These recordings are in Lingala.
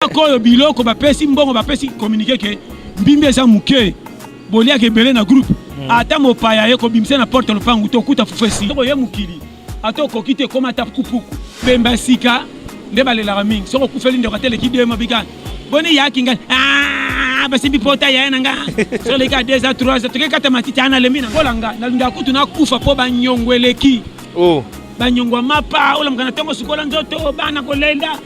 atako oyo biloko bapesi mbongo bapesi communiqué ke mbimbi eza moke boliaka ebele na groupe hmm. ata mopaya ye kobimisa na porte lopangu to okuta fufu esi soko ye mokili ata okoki te ekoma ata pukupuku bemba sika nde balelaka mingi soko okufeli ndeko ata eleki dema bika boni yaki ngai ah, basimbi pota yaya na nga so eleki a deux a trois a toke kata matiti ana lembi na ngola nga nalingaka kutu nakufa mpo banyongo eleki oh. banyongo ya mapa olamukana ntongo sukola nzoto bana kolela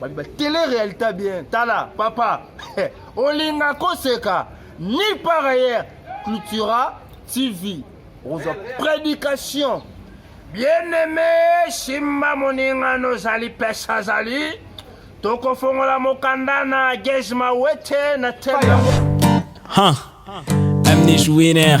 babi ba tele realita bien tala papa olinga koseka ni par ailleurs cultura tv okozwa prédication bien aimé simba moninga nozali pesa azali tokofongola mokanda na gage mawete na tele yango huh. amnish winner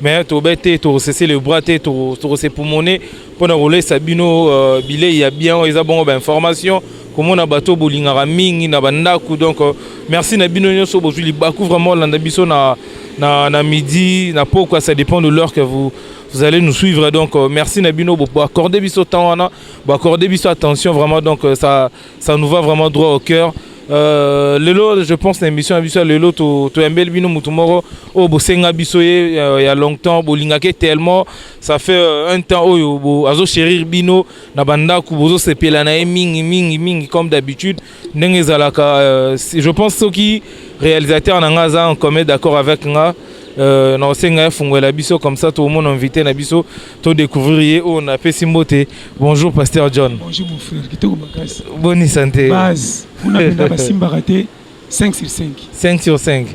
mais tobete tokosese le bras te tokose pumone mpo na kolesa bino euh, bilei ya bien oyo eza bongo bainformation komona bato bolingaka mingi na bandako donc euh, merci na bino nyonso bozwi libaku vraiment olanda biso na, na, na midi na pokwa ça dépend de l'heure que vous vous allez nous suivre donc euh, merci na bino boaccorde biso temps wana boaccorde biso attention vraiment donc ça Ça nous va vraiment droit au cœur. Euh, lelo je pense na émission ya biso ya lelo toyambeli bino motu moko oyo bosenga biso ye euh, ya longtemps bolingaki tellement ça fait euh, un temps oyo azochérir bino na bandako bozosepela na ye mingi mingi mingi comme d'habitude ndenge ezalaka je pense soki réalisateur na nga aza en commun d'accord avec nga euh, na osenga ye fungwela biso comme ça tomona invité na biso To découvrir ye oyo na pesi mbote. Bonjour pasteur John. Bonjour mon frère, kitoko makasi. Boni santé. Base, kuna penda basimbaka te 5 sur 5. 5 sur 5.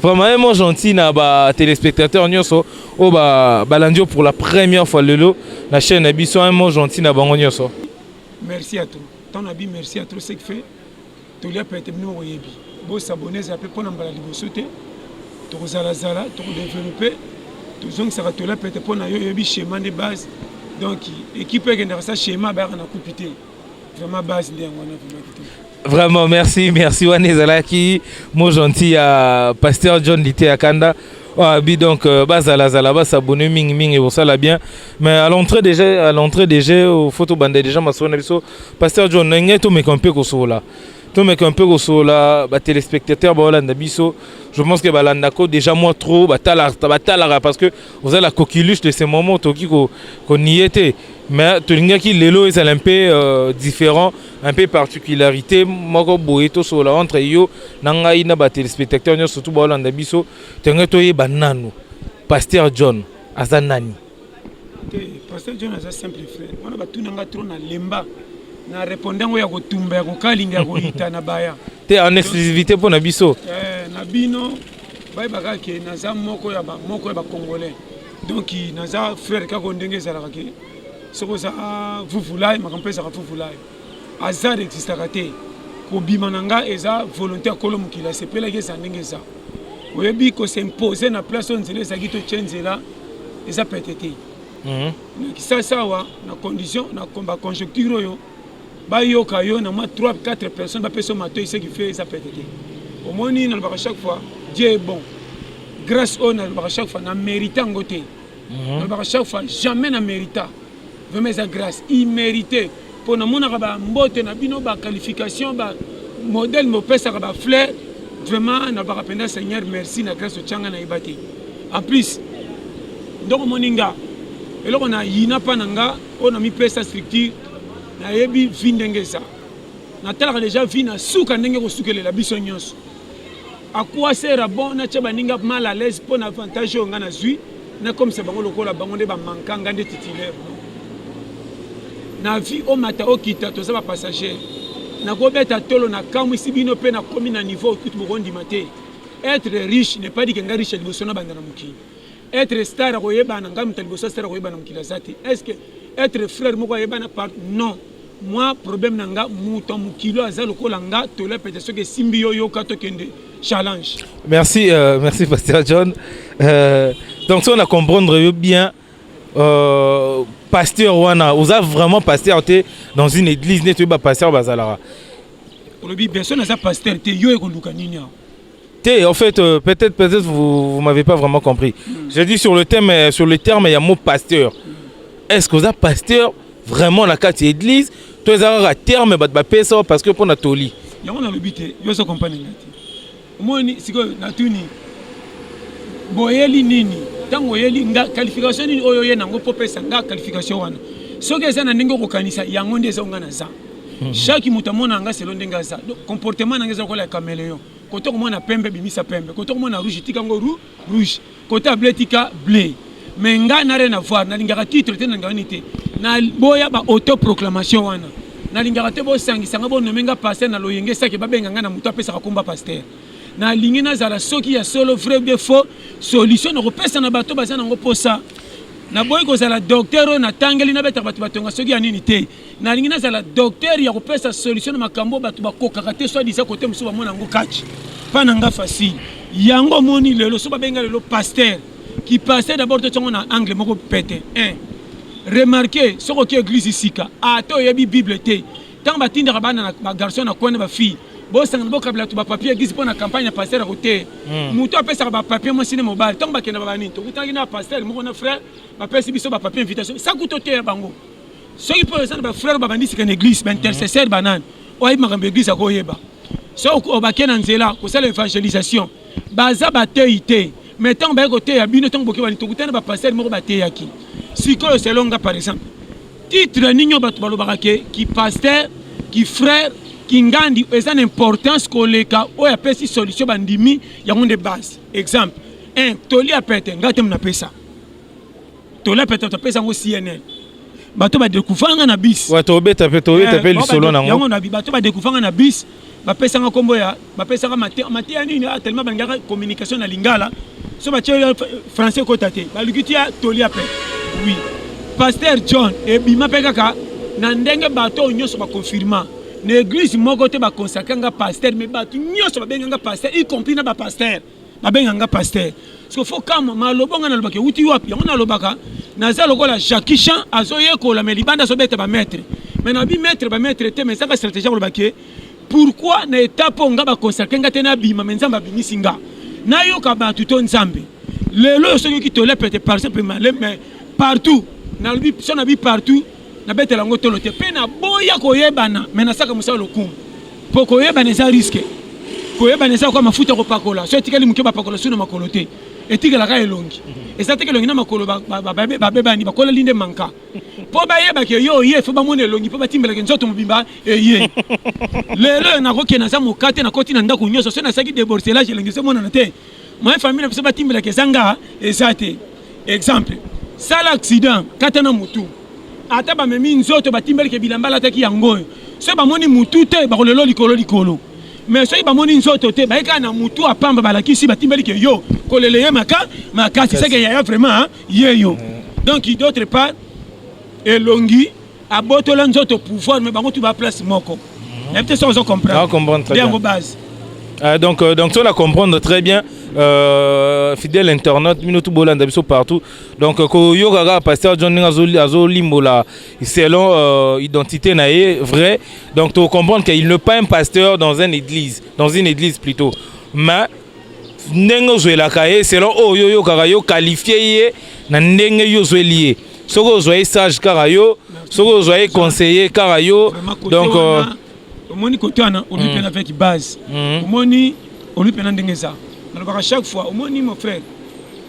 Vraiment gentil na ba téléspectateurs nyoso oyo ba balandi yo pour la première fois lelo na chaîne na biso un mot gentil na bango nyoso. Merci à toi. Ton abi merci à toi ce que fait toli ya pete bino boyebi bosaboneza mpe mpo na mbala liboso te tokozalazala tokodevelope tozongisaka toli ya pete mpo na yo oyebi schéma nde base donc équipe ekendaka sa schéma bayaka na kupi te vraiment base nde yango wana vraiment kitoko Vraiment, merci, merci. Wanezalaki, mon gentil, à Pasteur John Lité Akanda. Ah, bi donc euh, bazala zala basabone mingi mingi ekosala bien mais à l'entrée déjà à l'entrée déjà faut tobanda déjà masolo na biso pasteur john na ngai tomeka mpe kosola tomeka mpe kosola batelespectateur baolanda biso je pense que balandako déjà moi trop batalaka batalaka parce que oza la coquilus de ce moment tokoki konie te mais tolingaki lelo ezala mpe euh, différent un peu particularité moko boye tosolola entre yo na ngai na batelespectateur nyonso surtout baolanda biso tenge toyeba nanu paster john aza nani te paster john aza simple frère wana batuna ngai trop na lemba na reponde yango ya kotumba ya kokalinga ya koyita na baya te en exclusivité mpo na biso eh, na bino bayebaka ke naza moko ya moko ya bacongolais donc naza frère kako ndenge ezalaka ke soki oza vuvulai makambo mpe ezaka vuvulai hasard existaka te kobima na ngai eza volonté ya kolo mokili asepelaki eza ndenge eza oyebi kosimpose na place oyo nzela ezalaki totye nzela eza pete te mhm. na kisasi awa na condition na baconjecture oyo bayoka yo na mwa 3 4 personnes bapesa yo matoi ce qui fait eza pete te omoni nalobaka chaque fois dieu est bon grâce oyo nalobaka chaque fois na mérite yango te Mhm. nalobaka chaque fois jamais na merita vraiment eza grâce imérité mpo namonaka bambote na bino baqualification bamodèle mopesaka bafleur vraiment nalobaka mpenza seigneur merci na grâce otyanga nayeba te en plus ndoko omoni nga eloko na yina mpa na nga oyo namipesa structure nayebi vi ndenge eza natalaka deja vi na suka ndenge kosukelela biso nyonso akuasera bon natya baninga mal à l'aise mpo na avantage oyo ngai nazwi nakomisa bango lokola bango nde bamanka ngai nde titulaire na vie omata okita toza bapassager nakobeta tolo nakamwisi bino mpe nakomi na niveau okuti bokondima te être riche ne pas dike ngai riche ya liboso nabanda na mokili Être star akoyebana ngai moto liboso star akoyebana mokili aza te. Est-ce que être frère moko ayebana par non moi problème na nga moto ya mokili oyo aza lokola nga tola pete soki esimbi yo yoka tokende challenge merci euh, merci pasteur john euh, donc soki na comprendre yo bien euh, pasteur wana oza vraiment pasteur te dans une église neti oyeba pasteur bazalaka olobi beso naza pasteur te yo ekoluka nini awa T, en fait, euh, peut-être peut, -être, vous, vous m'avez pas vraiment compris. Mm. Je dis sur le thème, euh, sur le terme, il y a mot pasteur. Est-ce que vous avez pasteur vraiment la carte église Toi, ils ont un terme, bah, bah, ça parce que pour Natoli. Il y a un habité, il y a un compagnie. Moi, c'est que Natuni, boyeli nini ntango oyeli nga qualification nini oyo oye nango mpo opesa nga qualification wana soki eza na ndenge okokanisa yango nde eza onga na za chaque moto amonaka ngai selo ndenge aza comportement na ngai eza lokola ya cameleon kote okomona pembe bimisa pembe kote okomona rouge tika yango rou rouge kote ya ble tika ble mais ngai na rien avoir nalingaka titre te nalingaka nini te naboya ba autoproclamation wana nalingaka te bosangisa ngai bonome ngai paster na loyenge sake babenga ngai na moto apesaka komba paster nalingi nazala soki ya solo vrai de faux solution nakopesa na bato baza nango mposa naboyi kozala docteur oyo natangeli nabeta bato batonga soki ya nini te nalingi nazala docteur ya kopesa solution na makambo bato bakokaka te soit disa kote mosusu bamona yango kati mpa na nga facile yango omoni lelo so babenga lelo paster ki paster d'abord totiango na angle moko pete un remarke soki oki eglise sika ata oyebi bible te ntango batindaka bana bagarçon na kwana bafille bosangana bokabela to bapapier eglise mpo na campagne ya paster ako te hmm. moto apesaka bapapier mwasi ne mobali ntango bakenda babanini tokutanaki na paster moko na frère bapesi biso bapapier invitation sakuto te ya bango soki mpo eza na bafrere babandi sika na eglise baintercesseur mhm. banani oyebi makambo ya eglise akoyeba so obake na nzela kosala evangelisation baza bateyi te mai ntango baye koteya bino ntango bokebani tokutana bapastere moko bateyaki sikoyo selonga par exemple titre nini oyo bato balobaka ke kipastere kifrere kingandi eza na importance koleka oyo apesi solution bandimi yango nde base exemple un toli ya pete ngai te mnapesa tola peta topesa yango cnn bato badekufanga na bis tobeta mpe tobeta mpe eh, lisolo nango yango na bato badekufanga na bis bapesanga nkombo ya bapesanga mateya mateya nini ah, tellement balingaka communication na lingala so batye français ekota te baluki tia tolia mpe oui paster john ebima mpe kaka na ndenge bato oyo nyonso baconfirma na eglise moko te baconsacre nga paster mais bato nyonso babenga nga paster y compris na bapaster babenga nga pasteur siko fo kama maloba nga nalobaka ewuti wapi yango nalobaka naza lokola jacqui chan azoyekola me libanda azobeta bamaître me nabi maître bamaître te me ezaka stratégie koloba ke pourkui na étape oyo nga baconsacre nga te nabima me nzambe abimisi nga nayoka bato to nzambe lelo oyo soki oki tolep ete par exemple maleme partout nalobi so nabi partout nabetela yango tolo te mpe naboya koyebana me nasaka mosala lokumu mpo koyebana eza riske koyebana eza kwa mafuta ya kopakola so etikali moke bapakola su na makolo te etikelaka elongi mhm. eza teke elongi na makolo babebani bakoleli nde manka mpo bayebaki eye oye fo bamona elongi mpo batimbelaki nzoto mobimba eye lelo oyo nakokende naza moka te nakoti na ndako nyonso so nasalaki deborcelage elongi ezomonana te moye famille na biso batimbelaki eza nga eza te exemple sala accident kata na mutu ata bamemi nzoto batimbelike bilamba alataki yango oyo soki bamoni mutu te bakolelo likolo likolo mais soki bamoni nzoto te baye kaka na mutu apamba balakisi batimbelike yo kolela ye maka makasi seke yaya vraiment ye yo donc d'autre part elongi abotola nzoto pouvoir mais bango tout ba place moko mhm. na bite ça ozo comprendre comprendre bien base euh, donc euh, donc on a comprendre très bien euh, fidèle internaute bino tout bolanda biso partout donc euh, ko yoga ga pasteur John Ninga zo azo limbola selon euh, identité na ye vrai donc to comprendre qu'il ne pas un pasteur dans une église dans une église plutôt mais ndenge ozwelaka ye selon oyo oh, yo oyokaka yo qualifie ye na ndenge yo ozweli ye soki ozwa ye sage kaka yo soki ozwa ye conseiller kaka yo donc euh, omoni kote wana olobi mpena avec base mm. omoni olobi mpena ndenge eza nalobaka chaque fois omoni mon frère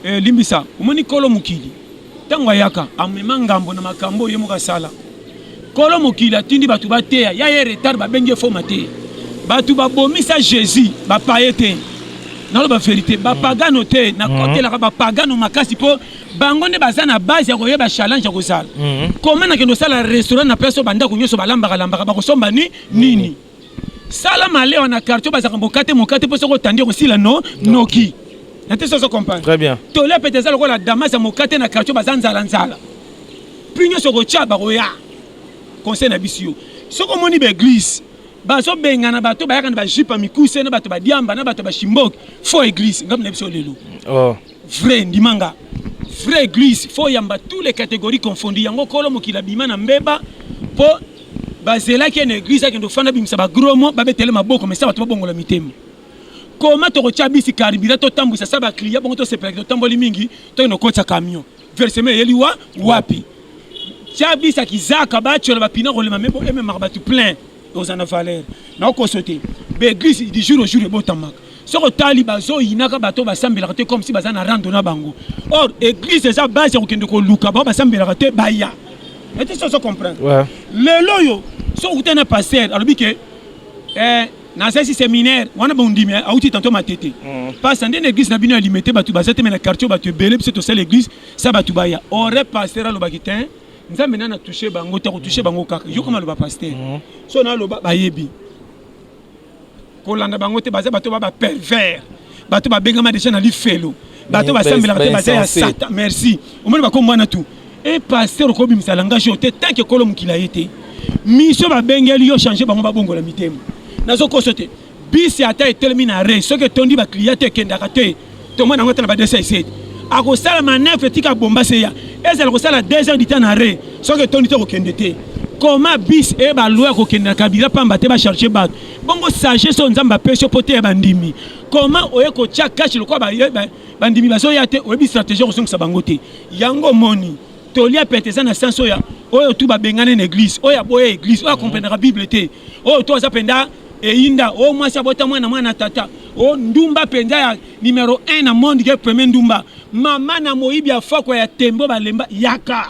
eh, limbisa omoni kolo mokili ntango ayaka amema ngambo na makambo oyo ye moko asala kolo mokili atindi bato bateya ya ye retard babengi efo mateya bato babomisa jésus bapaye te naloba verité bapagano te nakotelaka bapagano makasi mpo bango nde baza na base ya koyeba challenge ya kozala mhm. koma na kende osala restaurant na place oyo bandako nyonso balambaka lambaka bakosomba ni nini sala malewa na quartier bazalaka mokate mokate mpo soki otandi okosila no noki na te soso comprendre très bien tole pete eza lokola damas ya mokate na quartier baza nzala nzala puis nyonso okotya bakoya conseil na biso yo soki omoni baeglise bazobengana bato bayaka na bajipe ya mikuse na bato badiamba na bato bashimboki fo eglise ngambo na biso lelo oh. Vrai ndimanga. Vrai église faut yamba tous les catégories confondues yango kolo mokila bima na mbeba po bazelaki ene eglise akende ofanda bimisa bagromo babetele maboko mesa bato babongola mitema koma tokotya bisi karibira totambwisa sa bakliya bongo tosepelaki totamboli mingi tokende kokotisa camion versema eyeli wa wapi tya bisa kizaka batyola bapina kolema mebo ememaka bato plein oza na valeur na okoso te baeglise du jour au jour ebotamaka soki otali bazoyinaka bato basambelaka te comme si baza na rando na bango or église eza base ya kokende koluka bao basambelaka te baya ete so ozo comprendre lelo oyo soki okuta na paster alobi ke eh, nazalisi séminaire wana bondimi eh, auti tanto matete mm. pasta nde na église na bino ya limete bato baza te me na quartier bato ebele biso tosala église sa bato baya ore paster alobaki te nzambe nani atouche bango te akotouche bango kaka yo koma loba paster mhm. so naloba bayebi kolanda bango te baza bato ba bapervers bato babengama deja na lifelo bato basambelaka te baza ya sata merci omoni bakombo wana tu e eh, paster okobimisa langage oyo te tanke ekolo mokila ye te misio babengeli yo change bango babongola mitema nazokoso te Bisi ata etelemi na arrêt soki etondi ba clients te ekendaka te. Tomona yango ata na ba dessin ici. Akosala manœuvre etika bomba se ya. Ezala kosala 2 heures du temps na arrêt soki etondi te kokende te. Comment bus eyeba loi ya kokende na kabila pamba te ba charger bato? Bongo sagesse oyo Nzambe apesi yo mpo oteya bandimi. Comment oye kotya cash lokola ba, ba, bandimi bazoya te oyebi stratégie ya kozongisa bango te. Yango omoni toli ya pete eza na sens oyo oyo tu babengani na eglise oyo aboya eglise oyo akomprenaka bible te. oyo to aza mpenza eyinda oyo mwasi abota mwana mwana tata o ndumba mpenza ya numero 1 na monde ke premier ndumba mama na moyibi ya foko ya tembo balemba yaka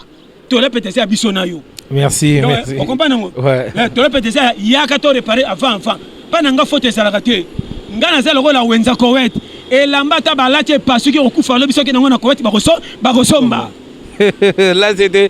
tola mpenza eza ya biso na yo merci Donc, merci okomprendre yango Ouais. Eh, tola mpenza eza ya yaka to repare avant avant mpa na nga foto ezalaka te nga naza lokola wenza kowet elamba ata balati epasuki okufa lobi soki nango na kowet bakoso- bakosomba là c'était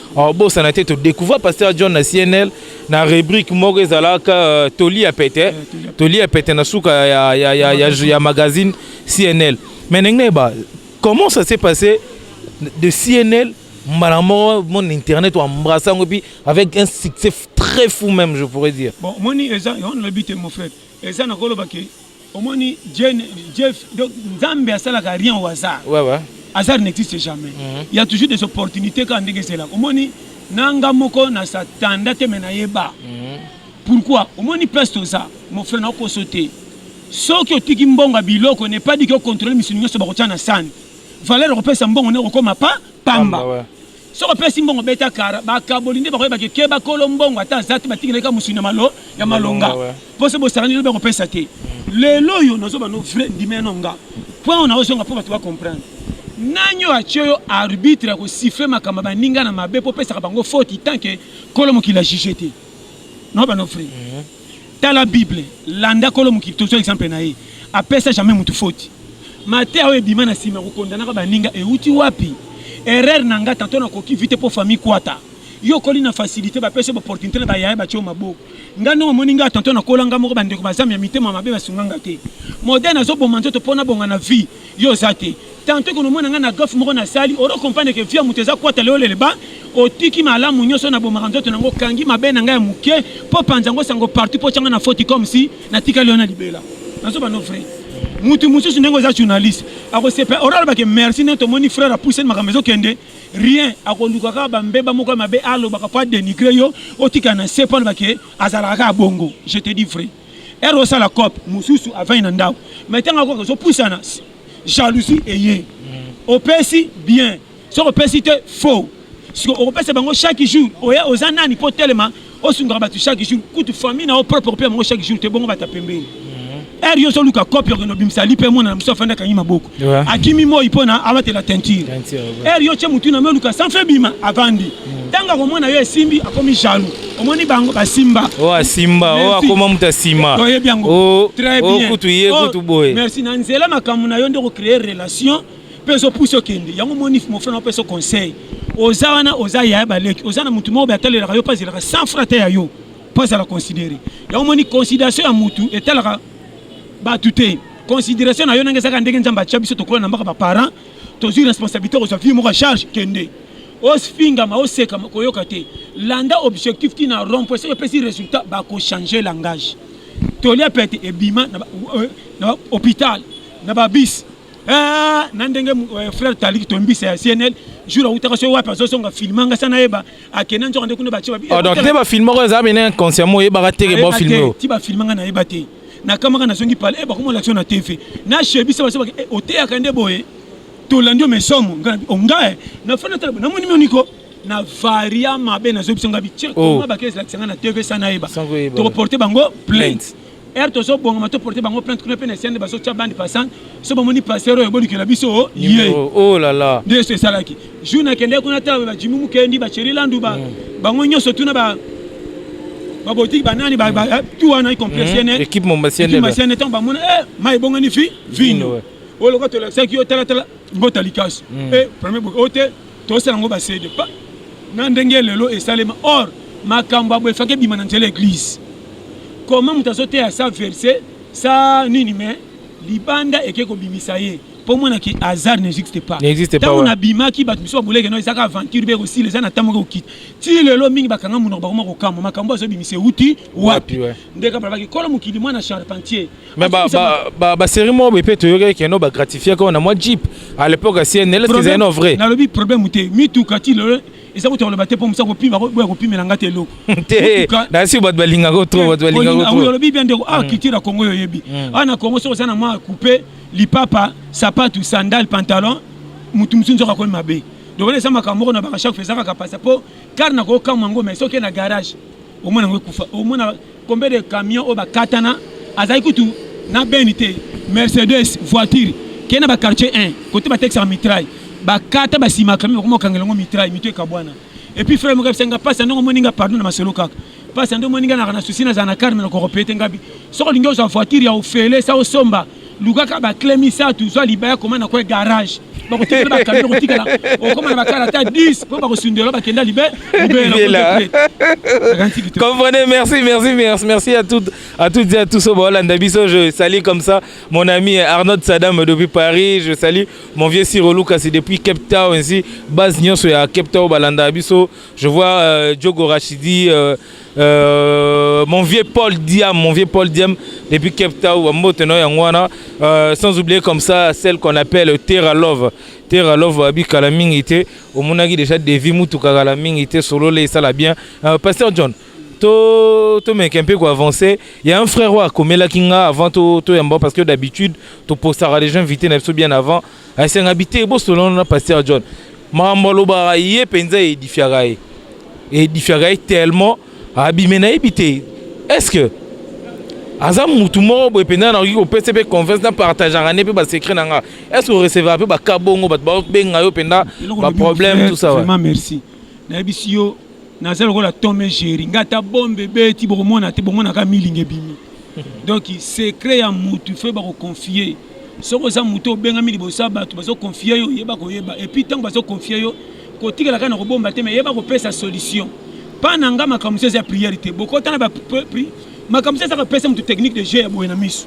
obosana te todecouvra pasteur john na cnl na rubrique moko ezalaka euh, toli ya pete eh, toli ya pete na suka ya, ya, ya, ya, ya magazine cnl mais ndenge nayeba comment ça s'est passé de cnl mbala moko mon internet oembrasse yango epuis avec un succès très fou même je pourrais dire bon moni eza on lobi te mon frère eza na koloba ke omoni Jane- jeff donc nzambe asalaka rien au hasard Ouais, ouais. hasard n'existe jamais Mhm. il y a toujours des opportunités kaka ndenge ezelaka omoni nanga moko na satanda te me nayeba Mhm. pourquoi omoni place toza mon frère nakoso te soki otiki mbongo ya biloko ne pas dike ocontrole misuni nyonso bakotya na sani valeur okopesa mbongo nde okokoma pa Pamba, pamba ouais. Soko pesi mbongo beta kara bakaboli nde bakoyeba ke keba kolo mbongo ata azati batikela ka musuni malo ya malonga pose bosakani lobi akopesa te lelo oyo nazoba no vrai ndime no nga point oyo naozonga mpo bato bacomprendre nani oyo atye yo arbitre ya kosifle makambo baninga na mabe mpo opesaka bango foti tant ke kolo mokili ya juge te naoba no vrai Tala Bible, landa kolo mokili tozwa exemple na ye. Apesa jamais mutu faute. Mateya oyo ebima na sima kokondanaka baninga euti wapi? Erreur na nga tanto na koki vite po famille kwata. Yo okoli na facilite bapesa ba opportunite na ba yaya batio maboko. Nga ndongo omoni nga tanto nakola nga moko bandeko bazami ya mitema mabe basunga nga te. Modèle nazoboma nzoto po nabonga na vie. Yo oza te. Tantot ko nomona nga na gaffe moko na sali oro comprendre que vie ya moto eza kwata lelo eleba otiki malamu nioso na bomaka nzoto na nga okangi mabe na nga ya mukie po panza ngo sango partout po otia nga na foti comme si na tikali yo na libela na zoba no vrai mutu mususu ndenge oza journaliste ako sepe oro aloba ke merci nde tomoni frère a pousse makambo ezo kende rien ako luka kaka ba mbeba moko ya mabe aloba ka po a denigre yo otika na se po aloba ke azalaka kaka bongo je te dis vrai ero osala cop mosusu avandi na ndako mai ntango akoka ozopusana jalousie eye opesi bien soki opesi te faux siko okopesa bango chaque jour oya oza nani mpo otelema osungaka bato chaque jour kutu famille na yo propre okopesa bango chaque jour te bongo bata pembeni ere mhm. yo ozoluka kopi okende obimisa lipe emona na mosusu afandi akangi maboko akimi moi mpo na abatela teinture ere yo tye motu na me oluka sanfe bima avandi Tanga ko mwana yo esimbi akomi jaloux. Omoni bango ba simba. Oh asimba, oh akoma mutu asima. To yebi yango. Oh, très oh, bien. Oh kutu ye oh, kutu boye. Merci na nzela makambo na yo nde ko créer relation pe zo pousse okende. Yango moni mon frère na peso conseil. Oza wana oza ya ba leki. Oza na mutu moko ba talelaka yo pazela 100 francs te ya yo. Pazala considérer. Yango moni considération ya mutu etalaka ba tuter. considération na yo ndenge ezalaka ndenge nzambe atya biso tokola na mbaka baparent tozwi responsabilité kozwa vie moko ya charge kende osfingama osekama koyoka te landa objectif ti na rond point soki epesi résultat bakochange langage tolia pete ebima na euh, hôpital na babis eh, na ndenge euh, frère taliki tombisa ya cnl jour awutaka soki wapi azozonga filme nga sa nayeba akenda nzoka nde kuna batie ah, donc te bafilme oko eza bene inconsciemment oyebaka teke bofilme ti bafilme nga nayeba te nakamaka nazongi pale eh, bakomona action na tv na shebisa basobaka eh, oteyaka nde boye Tolandi yo mais somo nga oh, nga eh, na fana tala na moni moniko na varia mabe na zobi songa biche oh. koma ba kesi la tsanga na TV sana eba. To porter bango plainte. Er to zo bonga to porter bango plainte kuna pe na sende baso cha bande passant. So ba moni passer oyo boni kela biso oh, ye. Oh la la. Nde so esalaki. Jour na kende kuna ta ba jimu mukendi ba cheri landu ba mm. bango nyoso tuna ba babotiki banani eh, tu wana y compris mm. cnn équipe mombasienne équipe mombasienne tant bamona eh mai bongani fi vino oyo lokola tolakisaki yo talatala mbota likasi mm. e premier boke oyo te tosala yango basede pa na ndenge lelo esalema or makambo abo efaki ebima na nzela eglise koma moto azoteya sa verse sa nini me libanda eke kobimisa ye mpo mwana ke hasard n'existe pas ntango nabimaki bato mosusu baboleke no ezaka aventure mpe ekosila eza na ntango mpe kokita ti lelo mingi bakanga monoko bakoma kokamwa makambo azobimisa euti wapi ndeko balobaki kolo mokili mwana charpentier Mais ba ba ba, ba série moko pe to yoka keno ba gratifier ko na moi Jeep à l'époque à CNL qui est non vrai. Na lobi problème te mitu kati le eza ko toloba te po musa ko pima ko boya ko pimela ngate eloko. Te. Na si bat balinga ko trop bat balinga ko trop. Ah lobi bien de ah kiti na Congo yo yebi. Ah na Congo so sana moi couper lipapa sapatu sandal pantalon mutu musu nzoka ko mabe. Donc on est ça makambo na ba chaque fois ça ka passa po car na ko kamwa ngome soki na garage omona yango ekufa omona Combien de camions oyo bakatana azali kutu na beni te mercedes voiture kei na baquartier 1 kote batekisaka mitraille bakata basima camion bakoma kokangela yango mitraille mitu ekabwana epuis frere moko yebisa nga mpasi ya ndenge omoni nga pardon na masolo kaka mpasi ya ndenge omoni nga naka na susi nazala na karme na koropete ngabi soki olingi ozwa voiture ya ofele sa osomba lukaka ba clé misato zwa libaya koma na kwe garage bakotikela bakami okotikala okoma na bakala ata 10 mpo bakosundela bakenda libe comprenez merci merci merci merci à toutes à toutes et à tous baolanda biso je salue comme ça mon ami Arnaud Sadam depuis Paris je salue mon vieux Siro Lucas depuis Cape Town ainsi base nyonso ya Cape Town balanda biso je vois euh, Diogo Rachidi euh, Euh, mon vieux Paul Diam, mon vieux Paul Diam, depuis Cape Town, Mbote no Yangwana, euh, sans oublier comme ça celle qu'on appelle Terra Love. Terra Love abi kala mingi te, omonaki déjà Devi mutu kala mingi te, solo le sala bien. Euh, Pasteur John, to to meke un peu quoi avancer. Il y a un frère wa komela kinga avant to to yamba parce que d'habitude to postara les gens invités na bien avant. Asenga bite bosolola na pasteur John. Makambo alobaka ye mpenza edifiaka ye. Edifiaka ye tellement abime nayebi te. Est ce que aza mutu moko boye mpenza nakoki kopesa mpe confiance na partageaka nde mpe basecret na nga est ce que orecevaka mpe baka bongo bato bakobenga yo mpenza baproblème tout ça vraiment merci nayebisi yo naza lokola tome géri nga ata bombe ebeti bokomona te bomonaka milinga ebimi donc secret ya mutu fe bakoconfie soki oza moto obengami liboso ya bato bazokonfie yo yeba koyeba epuis ntango bazokonfie yo kotikala kaka na kobomba te me yeba kopesa solution mpa na nga makambo mosusu eza ya priere te bokota na makambo mosusu ezaka pesa moto technique de jeu ya boye na miso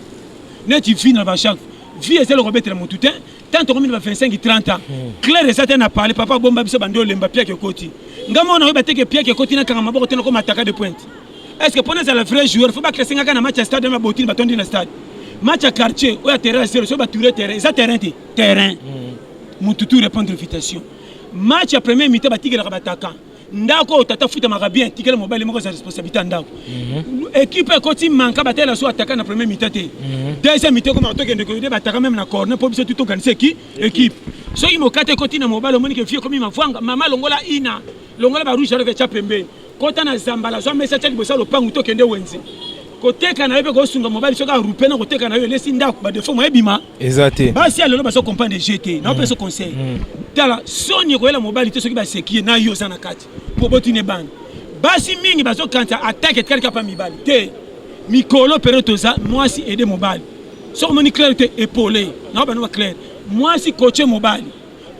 neti vi na bachak vi eza eloko abetela motu te ntango tokomi na ba 25 30 ans hmm. claire eza te na parle papa abomba biso bandi olemba piake ekoti nga mona oyeba teke piake ekoti nakanga maboko te nakoma ataka de pointe Est-ce que pona zala vrai joueur faut ba classer ngaka na match à stade na botine batondi na stade. Match à quartier ou à terrain c'est le ba tourner terrain. Eza terrain te. Terrain. Mm. Mutu tout répondre invitation. Match à premier mi-temps ba tigela ka bataka. ndako oyo tata afutamaka bien tikela mobali moko aza responsabilité ya ndako mhm. ekipe ekoti manka batela so ataka na premier mita te mhm. deuxième mita ekoma tokende koyede bataka meme na corne mpo biso tuti organise eki ekipe soki mokate ekoti na mobali omoni ke vie ekomi mavwanga mama longola ina longola barouge alove etya pembeni kota na zambala zwa mesa tya liboso ya lopangu to kende wenze koteka na yo mpe kosunga mobali soki arupe na koteka na yo elesi ndako badefo moye ebima eza te basi ya lelo bazo comprendre je te na opesa conseil tala soni ekoyela mobali te soki baseki ye na yo oza na kati mpo botuni ebana basi mingi bazokanisa atake etikali kapa mibali te mikolo periode toza mwasi ede mobali soki omoni claire te epole na yo bano ba claire mwasi koce mobali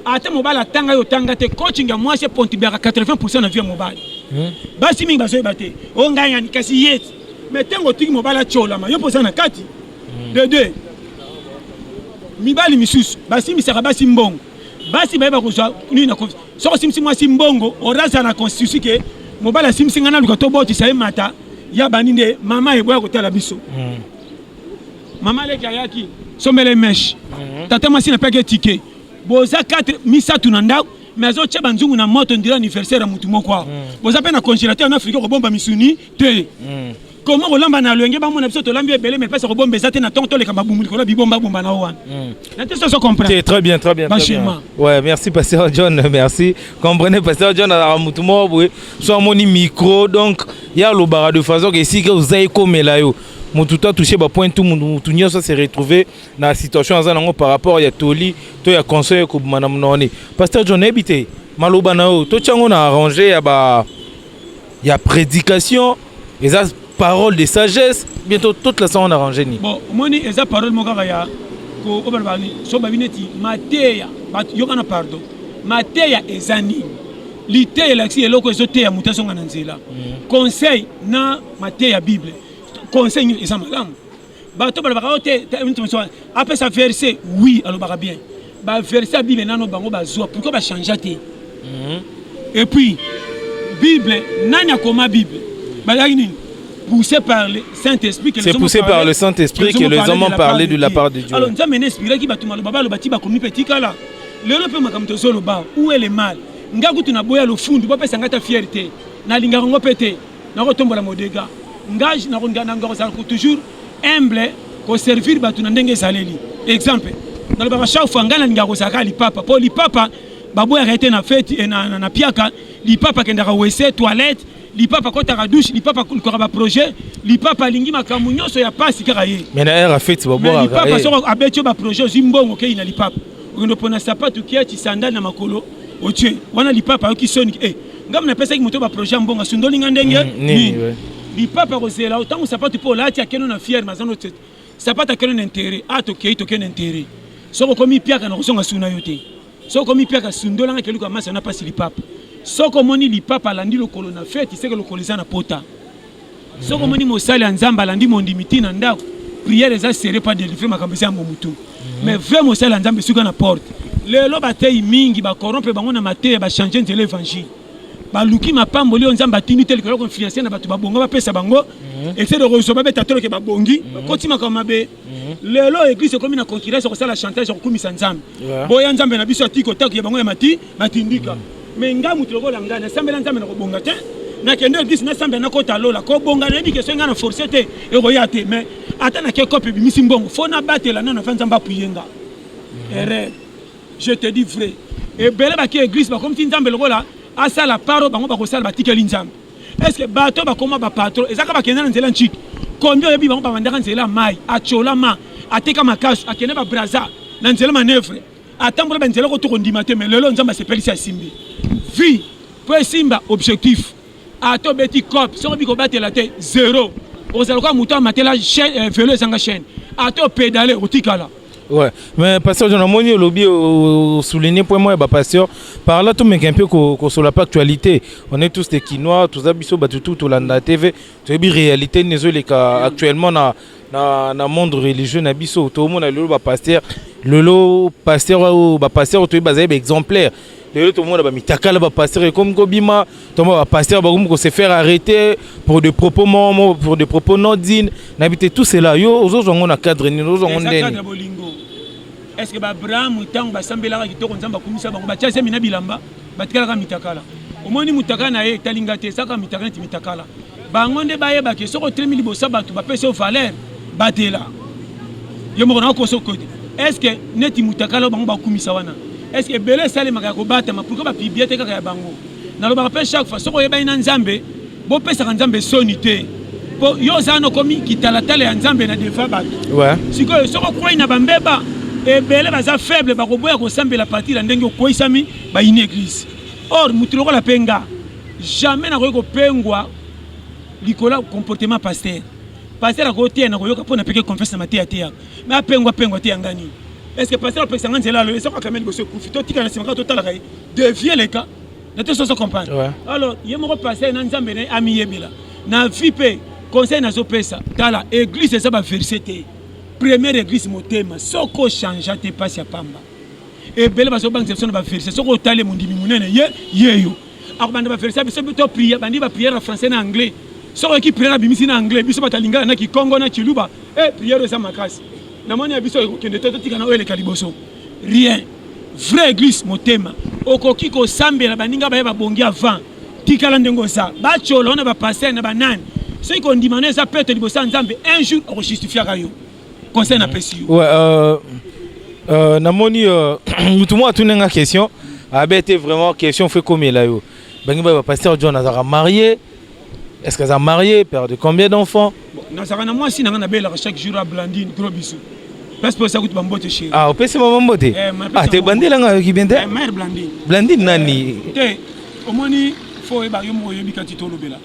ata mobali atanga yo otanga te coaching ya mwasi epontibiaka 80 na vie ya mobali hmm? basi mingi bazoyeba te o oh, ngai ngani kasi ye me ntango otiki mobali atyolama yo mpoza na kati hmm. de deux mibali misusu basimisaka basi mbongo basi bayeba kozwa nini na soki osimisi mwasi mbongo oraza na constitution ke mobali asimisi ngai naluka tobotisa ye mata ya bani nde mama eboya kotala biso hmm. Mama leki ayaki sombele mesh. Mhm. Tata mwasi na peke ticket. Boza 4 misatu na ndako mais azotya banzungu na moto ndira anniversaire ya motu moko awa mhm. boza mpe na congélateur na afrika kobomba misuni te mhm. koma kolamba na loyenge bamona biso tolambi ebele mais mpesa kobomba eza te na ntongo toleka mabumu likolo ya bibombabomba na o wana na te soso comprendre très bien très bien bachema ouais merci pasteur john merci comprenez pasteur john azalaka motu moko boye so amoni micro donc ye alobaka de façon ke esika oza ekomela yo mutu to touche ba point tout mutu nyonso se retrouver na situation aza nango par rapport ya toli to ya conseil ekobima na mononi pasteur john nayebi te maloba na yo totya yango na arrange ya ba ya prédication eza parole de sagesse bientôt toute la sango na arrange nini bon omoni eza parole moko kaka ya obaloba so babi neti mateya yokana pardon mateya eza nini liteya elakisi eloko ezoteya moto azonga na nzela mhm. conseil na mateya ya bible conseil nini eza malamu bato balobaka oyo te apesa verse oui alobaka bien baverse ya bible nano bango bazwa pourkoi bachangea te mhm. et puis bible nani akoma bible bazalaki nini poussé par le Saint-Esprit. C'est poussé par le Saint-Esprit que les hommes ont parlé de la part de Dieu. Alors, nous avons inspiré qui va tout mal, baba, le bâti, bakomi petit kala. Le lope makam to zolo ba, où est le mal? Nga kutu na boya lo fundu, bapa sangata fierté. Na linga ngo pete. nakotombola modega ngai nakozala toujours humble koservir bato na ndenge ezaleli exemple nalobaka chaque fois ngai nalingaka kozalaka lipapa mpo lipapa baboyaka ye te na feti eh, na, na, na piaka lipapa akendaka wese toilette lipapa akotaka douche lipapa akolukaka baprojet lipapa alingi makambo nyonso ya mpasi kaka ye lipapa soko abeti yo baprojet ozwi mbongo okei na lipapa okende opona sapatu kiaci sandale na makolo otie wana lipapa ayoki soni e eh, ngambo napesaki moto baprojet ya mbongo asundoli nga ndenge mm, nini lipapa akozela ntango sapatu mpo olati akeno na fiere mazano sapatu akeno na intere a ah, tokei tokei na intere soki okomi piaka na kozonga suna yo te soki okomi piaka sundolanga keluka masi ana mpasi lipapa soki omoni lipapa alandi lokolo na feti seke lokolo eza na pota Soki omoni mosali ya Nzambe alandi mondimi ti na ndako, prière eza serré pas délivré makambo eza yango mutu. Mhm. Mais vrai mosali ya Nzambe suka na porte. Lelo bateyi mingi ba corrompre bango na mateya ba changer nzela évangile. Baluki mapamboli oyo Nzambe atindi te likolo konfluencer na bato babonga bapesa bango mhm. ese de kozwa babeta toloke babongi mhm. bakoti makambo mabe lelo eglise ekomi na concurrence ya kosala chantage ya kokumisa Nzambe boya Nzambe na biso atiki kotaku ya bango ya mati batindika me nga moto lokola ngai nasambela nzambe na kobonga te nakende eglise nasambela nakota lola kobonga nayebi kesoi ngai na force te ekoya te mais ata nake kope ebimisi mbongo fo nabatela nano mpe nzambe apuye nga erreur je te dis vrai ebele bake eglise bakomisi nzambe lokola asala paro bango bakosala batikeli nzambe estce bato bakoma bapatro ezaka bakenda na nzela nciki kombi oyebi bango babandaka nzela mai acolama ateka makasi akende babraza na nzela manevre atambola ba nzela ko to kondima te mais lelo nzambe asepelisi asimbi vie po esimba objectif ato beti cop soko biko batela te zero ozala lokola moto amatela euh, velo ezanga chaîne ato pedale otikala Ouais. Mais pasteur John Amoni Olobi au souligné point moi, bah, pasteur, par là tout mec un peu qu'on soit la pas actualité. On est tous des Kinois, tous abisso, bah, tout, tout, tout, la TV, tu as réalité, les actuellement, na, na monde religieux na biso tomona lelo bapaster lelo paster oyo bapaster oyo toyebi bazali baexemplaire lelo tomona bamitakala bapaster ekomi kobima toma bapaster bakomi kose faire arrêter pour de propos momo pour de propos non digne na bi te tout cela yo ozozwa yango na cadre nini ozozwa yango ndeni est ce que baabraham ntango basambelaka kitoko nzambe akumisa bango batya zemi na bilamba batikalaka mitakala omoni mutakala na ye etali nga te ezaka mitakala neti mitakala bango nde bayeba ke soki otelemi liboso ya bato bapesi yo valeur batela yo moko na okoso kote estce neti mutakala oyo bango bakumisa wana estce ebele esalemaka ya kobatama pourkui bapiblie te kaka ya bango nalobaka mpe chaque fois soki oyebani na nzambe bopesaka nzambe soni te mpo yo oza nokomi kitalatala ya nzambe na defa bato sikoyo soki okwei na bambeba ebele baza faible bakoboya kosambela partir ya ndenge okweisami bayini eglise or motu lokola mpe nga jamais nakoki kopengwa likolo ya comportement pasteur pasteur akoteya na koyoka mpo napeke confiance na mateya teyaka me apengwa pengwa te yanga nini est ce que pasteur apekisa nga nzela alo esako akameli boso ekufi totika na nsima kaka totalaka ye de vie leka na te soso comprendre ouais. alors ye moko pasteur na nzambe na ye amiyebela na vie mpe conseil nazopesa tala église eza baverse te première église motema soko changea te mpasi ya pamba ebele bazobangisa biso na baverse soki otali mondimi monene ye yeyo akobanda baverse ya biso to priere bandi bapriere ya français na anglais soki oyoki priere abimisi na anglais biso bato ya lingala na kikongo na kiluba e eh, priere eza makasi namoni ya biso ekokende te totika na oyo eleka liboso rien vrai église motema okoki kosambela baninga baye babongi avant tikala ndenge oza bacolo na bapaster na banani soki kondimana eza peto liboso ya nzambe un jour okojustifiaka yo conseil na pesi yo ouais, euh, euh, namoni euh, mutu moko atuni nga question abete vraiment question fo ekomela yo bangi ba pasteur john azalaka marié est-ce que aza marié père de combien d'enfants nazalaka na mwasi na nga nabelaka chaque jour a blandine gros bisou place mpo esakuti bambote chéri ah opesi mama mbote eh, ah te bandela nga yoki bien te eh, mère blandine blandine nani eh, te omoni fo oyeba yo moko oyebi kati tolobela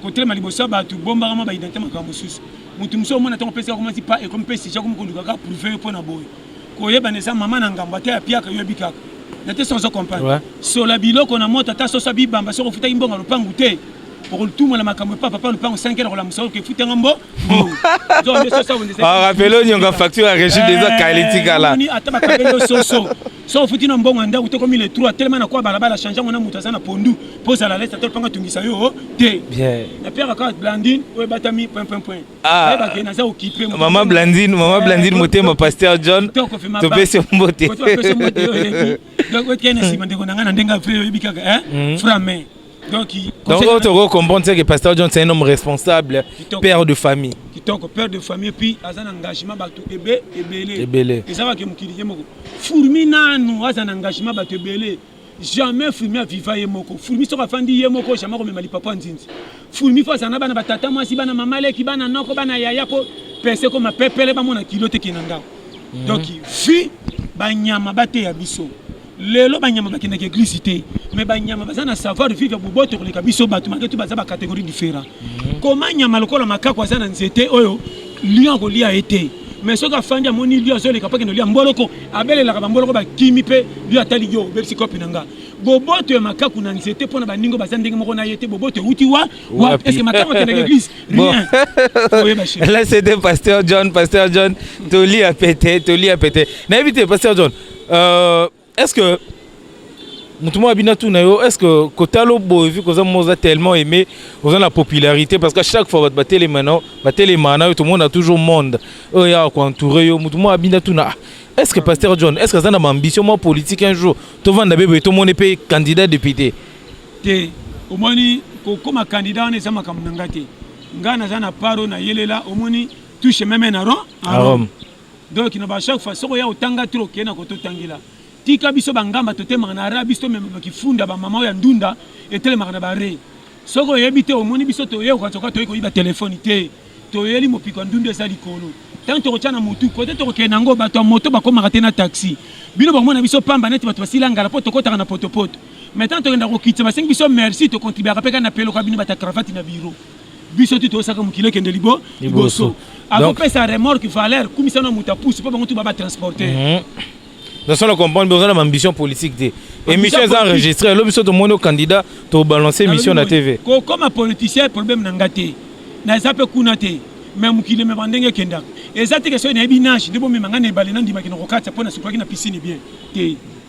kotelema liboso ya bato bombaka mwa baidentité makambo mosusu mutu musu omona tango pesi akomati pa ekomi pesi jakomi konduka kaka prouve yo mpo na boye koyebana eza mama na ngambo ata ya piaka yo ebikaka na te sans comprendre sola biloko na moto ata soso abibamba soki ofutaki mbongo lopangu te okolituma na makambo epa papa lopango 5 heure kolamusa oke efutanga mbo rapele onyonga facture ya régime eza kala etikala ata bakabeli yo soso so ofuti na mbongo ya ndako te komi le trois telema na kwa balabala change yango na moto aza na pondu mpo ozala lesa te lopanga tungisa yo te napiaka kaka blandine oyo ebatami point point point ayebake ah. naza okipe mama blandine mama eh, blandine motema pasteur john topesi yo mbote donc otikali na nsima ndeko na ngai na ndenge ape oyebi kaka eh? mm. frame Donc, Donc on te recomprend que Pasteur John c'est un homme responsable, Kitoko. père de famille. Kitoko, père de famille, puis a un engagement bato ebe ebele. Ebele. Et ça va que mukili ye moko. Fourmi nanu a un engagement bato ebele. Jamais Fourmi a viva ye moko. Fourmi soka fandi ye moko jamais ko memali papa nzinzi. Fourmi fa zana bana batata mwasi bana mama leki bana noko bana yaya ko pese ko mapepele ba mona kilo te kinanga. Mm -hmm. Donc, fi ba nyama ba te ya biso. Lelo banyama bakendaka eglise te, mais banyama baza na savoir vivre ya boboto koleka biso bato, malgré tout baza ba categorie différent. Mhm. Koma nyama lokola makako aza na nzete oyo lion akolia ye te, mais soki afandi amoni lion azoleka mpo akende olia mboloko, abelelaka bamboloko bakimi mpe lion atali yo obebisi kopi na nga. Boboto ya makaku na nzete mpo na baningo baza ndenge moko na ye te, boboto euti wa wa eske makaku akendaka eglise rien oyeba chez Là, c'était Pasteur John. Pasteur John, Toli a pété, Toli a pété. Nayebi te, Pasteur John, Euh, est ce que moto moko abina tuna yo est ce que kotala oboye vi koza moza tellement aimé oza na popularité parce que chaque fois bato batelema na batelema na yo tomona toujours monde oyo yaka koentoure yo moto moko abina tuna ah, est ce que pasteur john est ce que aza na baambition mwa politique un jour tovanda be boye tomoni mpe candidat député te omoni kokoma candidat wana eza makambo na ngai te ngai naza na paro na yelela omoni touche meme na rome donc kino ba chaque fois soko ya otanga trop kena koto tangela tika biso bangamba totemaka na ara biso tomemaka kifunda bamama oyo ya ndunda etelemaka na bare soki oyebi te omoni biso toyekoka toka toyei koyiba telefoni te toyeli mopiko ya ndunda eza likolo ntango tokotya na motu kote tokokende yango bato ya moto bakomaka te na taxi bino bakomona biso pamba neti bato basila ngala mpo tokotaka na potopoto mai ntango tokenda kokitisa basengi biso merci tokontribiaka mpe kaka na peloka bino bata cravate na biro biso tu tosaka mokili ekende libo liboso akopesa remorque valeur kumisa na moto apusi mpo bango tu baba transporter mhm. naso na comprendre boza na baambition politique te émission eza enregistré elo biso tomoni o candidat tobalance émission na tv kokoma politicien problème na nga te naza mpe kuna te me mokili emema ndenge ekendaka eza te kesoi nayebi nage nde bomema ngai na ebale nandimaki na kokatisa mpo nasukolaki na piscine bien te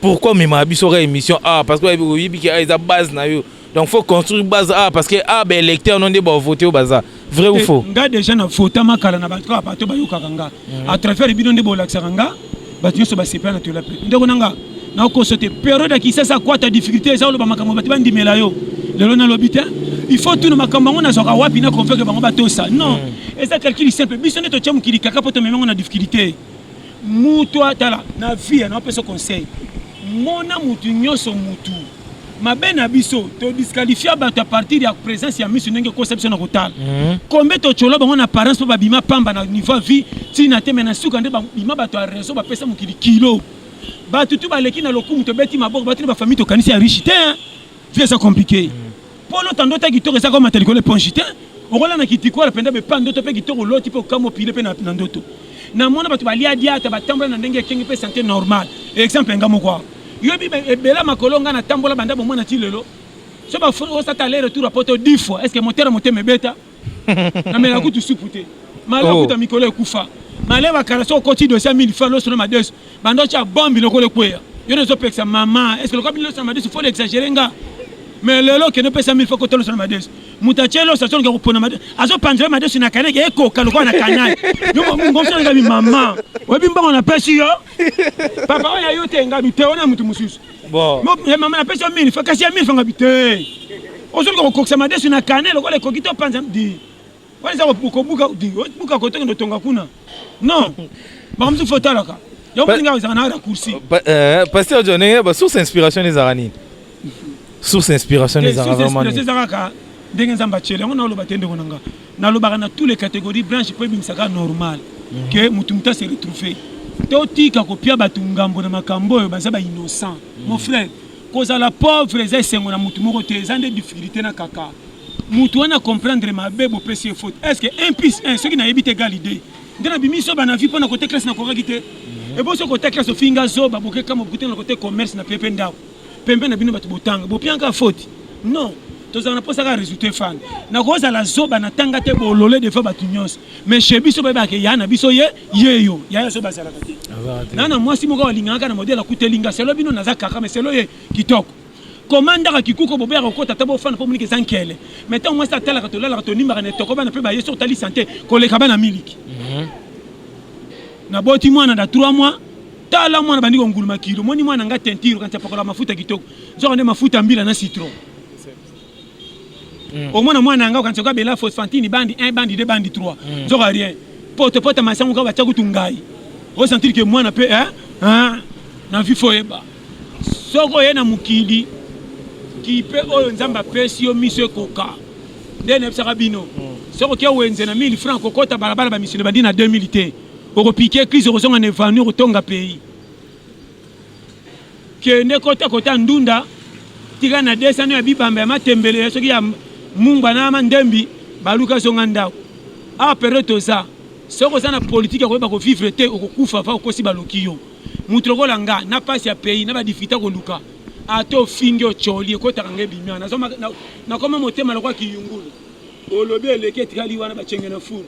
Pourquoi omemaka biso ka émission ah parce que oyebi ke ah eza base na yo donc faut construire base ah parce que ah ba électeur no nde ba voter yo baza vrai ou faux nga déjà na votama kala na bato kaka bato bayokaka nga à travers bino nde bolakisaka nga bato nyonso basepela na tola pe ndeko na nga nakoso te periode ya kisasa kwata difficulté eza oloba makambo bato bandimela yo lelo nalobi te il faut tuna makambo yango nazwaka wapi na convaincre bango batosa non eza calcul simple biso nde totya mokili kaka mpo tomemi yango na difficulté mutu atala na vie ya naopesa conseil mona mutu nyonso mutu mabe na biso todisqualifia bato a partir ya présence ya miso ndenge ekosa biso na kotala mhm. kombe totyola bango na apparence mpo babima pamba na niveau ya vie ntina te me na suka nde babima bato ya raison bapesa mokili kilo bato tu baleki na lokumu tobeti maboko bato na bafamille tokanisi ya riche te vie eza compliqué mpo lota ndoto ya kitoko ezaka omata likolo eponge te okola na kitikola mpenza bepa ndoto mpe kitoko oloti mpe okama opile mpe na ndoto namona bato balia diata batambola na ndenge ekenge mpe sante normal exemple nga moko awa yobi ebela makolo nga natambola banda bomona ti lelo so bafosa ta aller retour ya poto 10 fois est ce que motera motema ebeta na mela kutu supu te male oh. okuta mikolo ekufa male bakala so okoti dosi ya mille fois loso na madesu banda otya bombi lokola ekweya yo nde ozopekisa mama eske lokola bino loso na madesu fo exagere nga mais lelo okende opesa mille fois kota loso na madesu moto atye loso azoluka kopona madesu azopanzela madesu na kanaki ekoka lokola na kanai yomongosolekami mama oyebi mbongo napesi yo papa oyo ayo te nga miteo na moto mosusu ya mama napesi yo mini kasi ya mini fanga bite ozoluka kokokisa madesu na kane lokola ekoki te opanza di wana eza kobuka di obuka kotoke ndotonga kuna non makambo mosuku fo otalaka yango mpenza ngai ezalaka na raccourci pasteur john ndenge basource inspiration ezalaka nini source inspiration ezalaka vraiment nini ezalaka ndenge nzambe atyeli yango naoloba te ndeko na ngai nalobaka na tous les catégories branche mpo ebimisaka normal mhm. que motu motu ase retrouve totika kopia bato ngambo na makambo oyo baza ba innocent mon mhm. frère kozala pauvre eza esengo na motu moko te eza nde difficulté na kaka motu wana comprendre mabe bopesi ye faute est ce que 1 plus 1 soki nayebi te egal idée nde nabimi soba na vie mpo na kote classe nakokaki te mhm. eboso kote classe ofinga zoba bokekama bokutana kote commerce na pepe ndako pembe na bino bato botanga bopianka faute non tozala na mposa kaka résultat efana nakozala zoba na tanga te bolole defa bato nyonso mais chez biso bayebaka ke ya na biso ye ye yo yaya zoba azalaka te na na mwasi moko balingaka na modele akuteli nga selo bino naza kaka mais selo ye kitoko komandaka kikuko bobe ya kokota ata bofana mpo moniki eza nkele mai ntango mwasi atalaka tolalaka tonimbaka na etoko bana mpe baye soki otali sante koleka bana miliki mhm. naboti mwana na 3 mois tala mwana bandi konguluma kilo moni mwana nga teinture kanti apakola mafuta kitoko nzoka nde mafuta mbila na citron mm. omona mwana yanga okanisa oka bela phosphantine bandi 1 bandi 2 bandi 3 mm. nzoka rien poto poto masango ka batya kutu ngai osentir ke mwana mpe eh? eh? na vi foyeba soki oye na mokili kipe oyo nzambe apesi yo miso ekoka nde nayebisaka bino mm. soki oke wenze na 1000 franc kokota balabala bamisolo bandi na 2000 te Oko pique église okozonga na evanu okotonga pays. Kende kota kota ndunda tika na desano ya bibamba ya matembele ya soki ya mungba na mandembi baluka zonga ndako. Ah pero toza soki oza na politique ya koyeba ko vivre te okokufa va okosi baloki yo. Mutu lokola nga na pasi ya pays na ba difficulté koluka ata ofingi ocoli ekotaka nga ebimi wana nakoma motema lokola kiyungulu olobi eleki etikali wana bacenge na fulu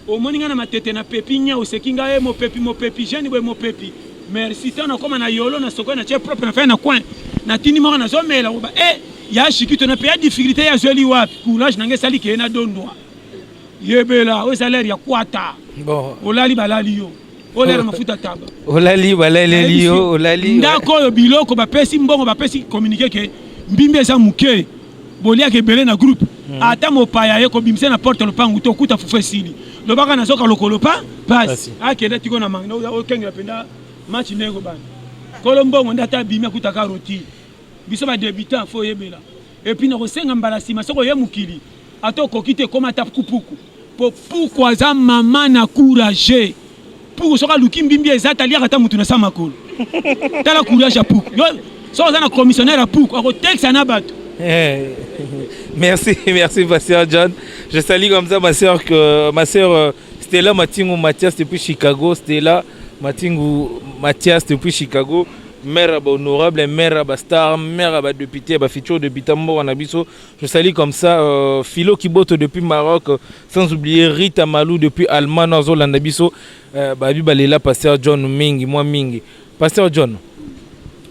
Omoni nga na matete na pepi nya oseki nga e mopepi mopepi jeune boye mopepi merci to na koma na yolo na soko na tie propre na fin na coin na tindi moko na zomela oba e eh, ya shikito na peya difficulté ya zoli wapi courage na nge sali ke na dondwa yebela o salaire ya kwata bon olali balali yo olela mafuta taba olali balaleli yo olali ndako oyo biloko bapesi mbongo bapesi communiqué ke mbimbi eza moke boliaka ebele na groupe hmm. ata mopaya ye kobimisa na porte lopangu to okuta fufu esili lobaka nazoka lokolo pa pasi akenda tiko na manga okengela mpenza match ndenge kobanda kolo mbongo nde ata abimi akutaka roti biso badebutant fo oyebela epuis nakosenga mbala nsima soki oye mokili Ata okoki te ekoma ata puku po puku aza mama na courage. Puku soki aluki mbimbi eza taliaka ata mutu na sa makolo. Tala courage ya puku. Yo soki oza na commissionnaire ya puku akotekisa na bato. Eh, merci, merci ma soeur John. Je salue comme ça ma soeur que ma soeur euh, Stella Matingu Mathias depuis Chicago. Stella Matingu Mathias depuis Chicago. mère ya bahonorable mère ya bastar mère ya badepute ya bafuture depute mboka na biso Je salue comme ça euh, Philo Kiboto depuis Maroc, euh, sans oublier Rita Malou depuis Allemagne, Azo Landabiso, euh, Babi Balela, Pasteur John Mingi, moi Mingi. Pasteur John,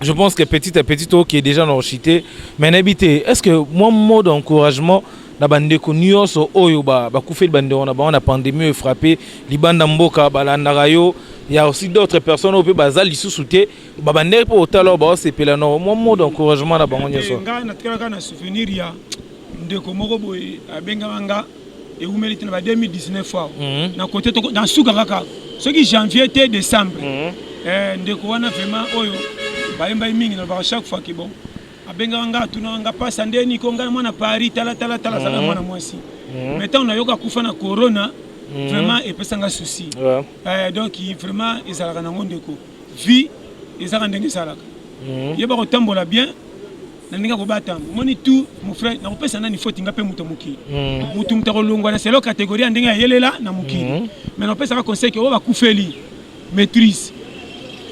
je pense que petit à petit, toi qui est déjà dans chité, mais n'habité, est-ce que moi, mot d'encouragement, na bandeko nyonso oyo bakufeli bandeko na bango na pandémie oyo frappe libanda mboka balandaka yo ya aussi d'autres personnes oyo mpe baza lisusu te ba bandeki mpo otala oyo baosepela no mwa mode encouragement na bango nyonso eh, ngai natikalaka na souvenir ya ndeko moko boye abengaka nga ewumeli te na ba 2019 awa mhm. na kote na suka kaka soki janvier te décembre mhm. eh, ndeko wana vraiment oyo bayembaki mingi nalobaka chaque fois ke bon abengaka nga atunaka nga pasa nde niko ngai mwana paris talatala tala azalaka mhm. mwana mwasi mais ntango nayoka kufa na corona vraiment epesanga souci eh, donc vraiment ezalaka nango ndeko vie ezaka ndenge esalaka mhm. yeba kotambola bien na ndenge akobata yango omoni tu mon frère nakopesa nani foti nga mpe moto mokili mhm. motu moto akolongwa na selo kategorie ya ndenge ayelela na mokili mhm. mai nakopesaka conseil ke oyo bakufeli maîtrise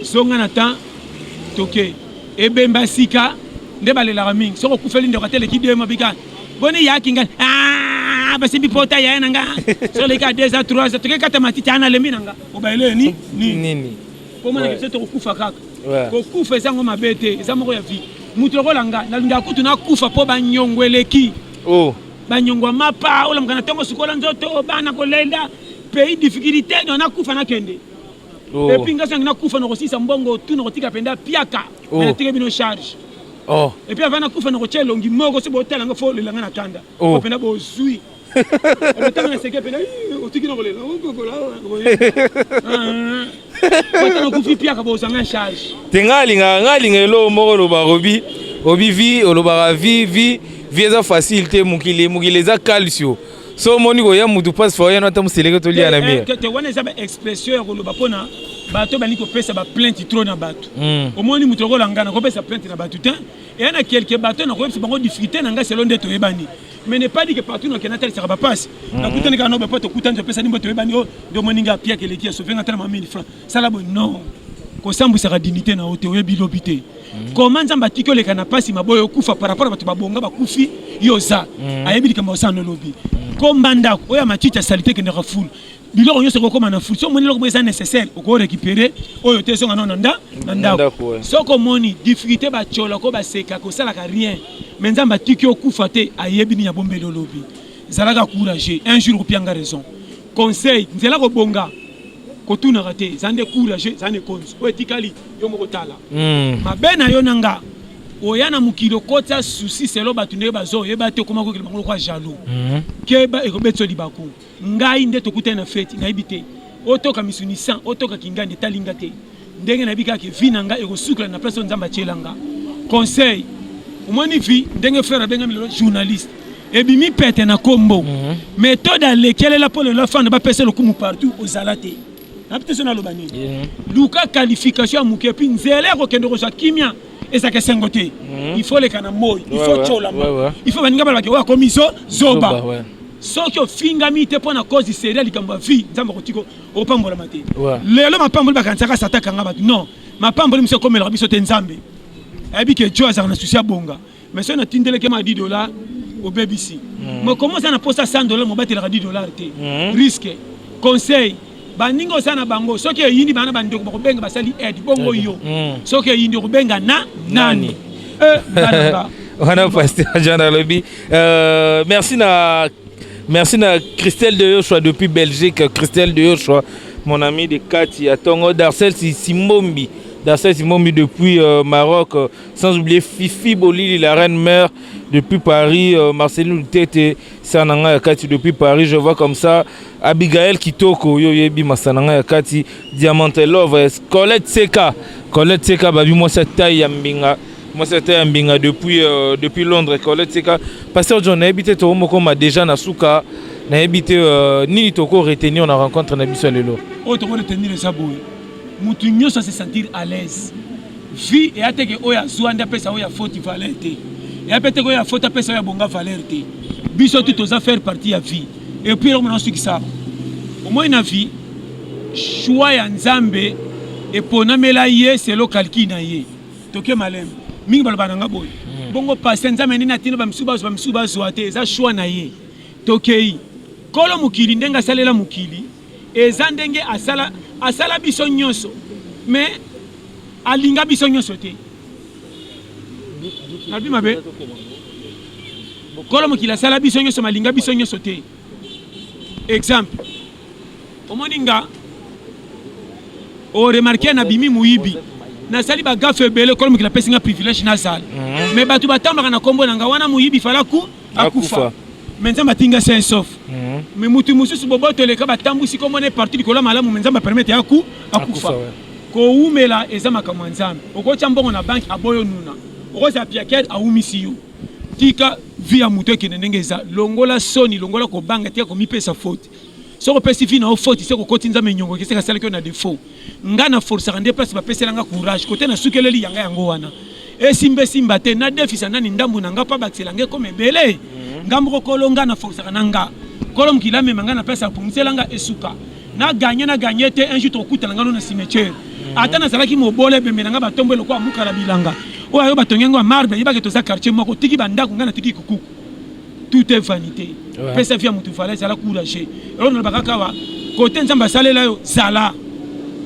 zonga na temps toke ebemba sika nde balelaka mingi soki okufeli ndeko ateleki de mabika boni yaki ngai ah, basimbi pota yaye na nga soleka 2 a 3 toke kata matiti ana lembi na nga obaele ni nini nini komona kese tokokufa kaka kokufa eza yango mabe te eza moko ya vie moto lokola nga nalingaka kutu nakufa mpo banyongo eleki oh. banyongo ya mapa olamuka na ntongo sukola nzoto bana kolenda pays difficulté no nakufa nakende oh. epuis nga sangi nakufa nakosilisa mbongo tu nakotika mpenza piaka oh. natike bino charge oh. epuis ava nakufa nakotya elongi moko so botala nga fo lelanga na kanda oh. mpenza bozwi Otanga na seke pena otiki na kolela okokola ata nakufi piaka bozanga charge te ngai alingaka ngai alinga eloko moko loba robi obi vi olobaka vi vi vi eza facile te mokili mokili eza calcio so omoni koya mutu mpasi fa oyano ata moseleke tolia na mire te wana eza baexpression ya koloba mpona bato bali kopesa baplainte trop na bato hmm. omoni moto lokola ngai nakopesa plainte na bato te eya na kelke bato nakoyebisa bango difficulté na ngai selo nde toyebani mais ne pas dire que partout na kenata lisaka ba passe mhm. na kutani kana ba poto kutani pesa nimbo to ebani o do moninga pia ke leki so venga tala 1000 francs sala bo non ko sambisa ka dignité na ote oyebi lobi te mhm. comment nzamba tiki oleka na pasi maboyo kufa par rapport bato babonga bakufi yo za mhm. ayebi likambo osana lobi ko mbandako oya matiti ya salite kendaka fulu biloko nyonso ekokoma na fri so omoni eloko eza nécessaire oko récupérer oyo te ezonga nao na nda na ndako soki omoni difficulté batyola ko baseka kosalaka rien mais nzambe atiki okufa te ayebi nini abombeli olobi zalaka courageux un jour okopianga raison conseil nzela kobonga kotunaka te eza nde courageux eza nde konzi oyo etikali yo moko tala hmm. mabe na yo na nga oya na mokili okotya susi selo bato ndenge bazoyeba te okoma kokele bango lokwa jaloux hmm. keba ekobetisa libaku ngai nde tokutani na feti nayebi te otoka misuni 100 otoka kingani etali nga te ndenge nayebi kaka ke vi na nga ekosukela na place oyo nzambe atyela nga conseil omoni vi ndenge frere abengami lelo journaliste ebimi pete na kombo mhm. metode alekelela mpo lelo afanda bapesa lokumu partout ozala te nabi te so naloba nini mhm. luka qualification ya moke epuis nzela ya kokende kozwa kimia ezalaka esengo te mhm. il faut leka na moi il faut colama il faut baninga balobaki oyo akomi zo zoba soki ofingami te mpo na cause seri ya likambo ya vie nzambe akotika opambolama te lelo mapamboli bakanisaka sata kanga bato non mapamboli mosu ekomelaka biso te nzambe ayebi ke jo azalaka na susi abonga mais soki natindeleke ma 10 dollars obebisi hmm. mokomi oza na mposa 100 dollars mobatelaka 10 dollars te hmm. risque conseil baningi oza na bango soki eyindi bana bandeko bakobenga basali aide bongo yo hmm. soki eyindi okobenga na nani eh, wana pasteur jean alobi euh, merci na merci na christelle de yoshua depuis belgique christelle de yoshua mon ami de kati ya tongo darcel simbombi darcel simbombi depuis euh, maroc sans oublier Fifi Bolili, la reine mère depuis Paris, euh, Marceline Lutete, Sananga Yakati depuis Paris, je vois comme ça, Abigail Kitoko, yo yebi Masananga Yakati, Diamant Love, euh, Colette Seka, Colette Seka, babi moi sa taille ya mbinga, moi sa taille ya mbinga depuis, euh, depuis Londres, Colette Seka, Pasteur John, nayebi te toko moko ma déjà na suka, nayebi te euh, nini toko retenir na rencontre na biso lelo. Oyo toko retenir eza boye, mutu nyoso se sentir à l'aise. Vie eya te ke oyo azua nde apesa oyo ya faute valeur te. Eya pe te ke oyo ya faute apesa oyo ya bonga valeur te. Biso tout toza faire partie ya vie. Et puis eloko mona nasukisa awa. Omoni na vie choix ya Nzambe eponamela ye selon calcul na ye. Toke malembe. Mingi baloba na nga boye. Hmm. Bongo passe Nzambe nini atindi ba misusu bazwa ba misusu bazwa te eza choix na ye. Tokei. Kolo mokili ndenge asalela mokili eza ndenge asala asala biso nyonso mais alinga biso nyonso te nabi mabe kolo mokili asala biso nyonso malinga biso nyonso te exemple omoni nga oremarke nabimi moyibi nasali bagafe ebele kolo mokili apesi nga privilège nazala mhm. mais bato batambaka na nkombo na nga wana moyibi falaku akufa me nzambe atinga sain sauf mhm. me motu mosusu boboto eleka batambwisi kombo na ye parti likolo ya malamu me nzambe apermete ya aku akufa kowumela eza makambo ya nzambe okotya mbongo na banki aboyo nuna okozala piakere awumisi yo tika vi ya moto ekende ndenge eza longola soni longola kobanga tika komipesa faute soki opesi vi na yo faute se kokoti nzambe nyongo keseka asalaki yo na defaut nga na forcaka nde place bapesela nga courage kote na sukeleli yanga yango wana esimba esimba te na defisa nani ndambu na nga mpo abakisela nga ekoma ebele mhm. nga moko kolo nga na forcaka na nga kolo mokili amema nga na place apungisela nga esuka na ganye na ganye te un jour tokutana nga no na cimetière mhm. ata nazalaki mobole ebembe na nga batombo elokola mukala bilanga oyo ayo batongi yango ya marbre yebake toza quartier moko tiki bandako nga na tiki kukuku tout est vanité pesa vie ya moto valeur zala courage eloko nalobaka kawa kote nzambe asalela yo zala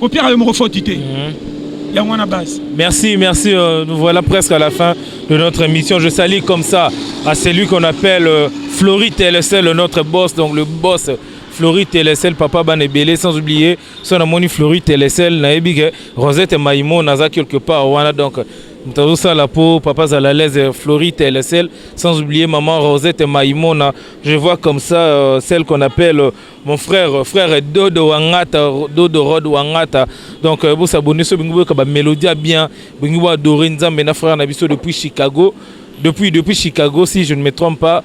kopiaka yo moko foti te mhm. yango wana base merci merci euh, nous voilà presque à la fin de notre émission je salue comme ça à celui qu'on appelle euh, Flory Telesel notre boss donc le boss Flory Telesel papa bana ebele sans oublier son amoni Flory Telesel nayebi ke Rosette Maïmo naza quelque part wana donc Moto sala po papa zala à l'aise Florite elle seule sans oublier maman Rosette Maimona je vois comme ça euh, celle qu'on appelle euh, mon frère euh, frère Dodo Wangata Dodo Rod Wangata donc euh, bo s'abonner so bingo ka ba mélodie bien bingo adorer Nzambe na frère na biso depuis Chicago depuis depuis Chicago si je ne me trompe pas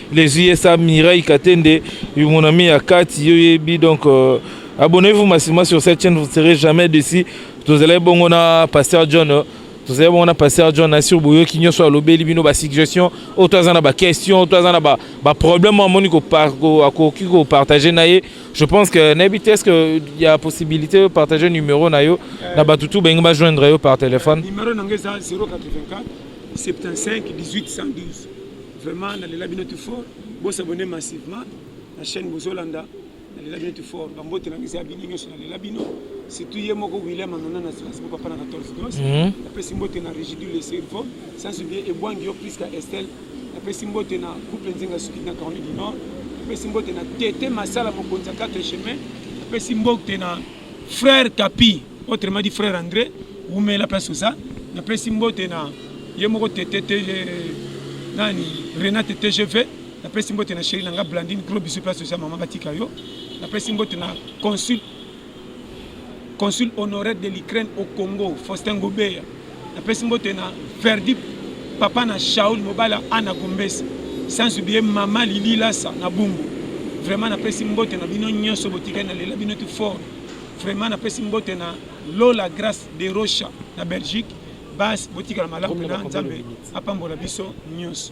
Les USA Mireille Katende, mon ami à Kati, Yoyebi, donc euh, abonnez-vous massivement sur cette chaîne, vous ne serez jamais déçus. Vous allez bon, on a Pasteur John. Euh, tozali bongo na pasteur john asir boyoki nyonso alobeli bino basuggestion oyo to aza na baquestion to aza na baproblème oyo amoni akoki kopartage na ye je pense que nayebi te est-ce que ya possibilité yo partage numéro na yo na bato tu balingi bajoindre yo par téléphone numéro na ngai eza 084 75 18 112 Vraiment na lela bino tout fort. Bo s'abonner massivement na chaîne Bozolanda. Na lela bino tout fort. Ba mbote na ngisa bino nyoso na lela bino. Surtout ye moko William Anana na Strasbourg papa na 14 gos. Mhm. Na pesi mbote na Rigidule le cerveau. Sans oublier Ebwangi yo Prisca Estelle. Na pesi mbote na couple Nzinga Suki na Caroline du Nord. Na pesi mbote na Tete Masala mokonzi ya 4 chemin. Na pesi mbote na Frère Kapi, autrement dit frère André, wumela place oza. Napesi mbote na ye moko tete tete nani Renate TGV. Napesi mbote na chérie na nga Blandine, gros bisous place oza maman batika yo. Napesi mbote na consul consul honoraire de l'Ukraine au Congo, Faustin Gobeya. napesi mbote na verdi papa na shaul mobali ana gombesa sans oublier mama lili lasa na bumbu vraiment napesi mbote na bino nyonso botikali na lela bino tu fort vraiment napesi mbote na lola grace de rocha na belgique basi botikala malamu na nzambe apambola biso nyonso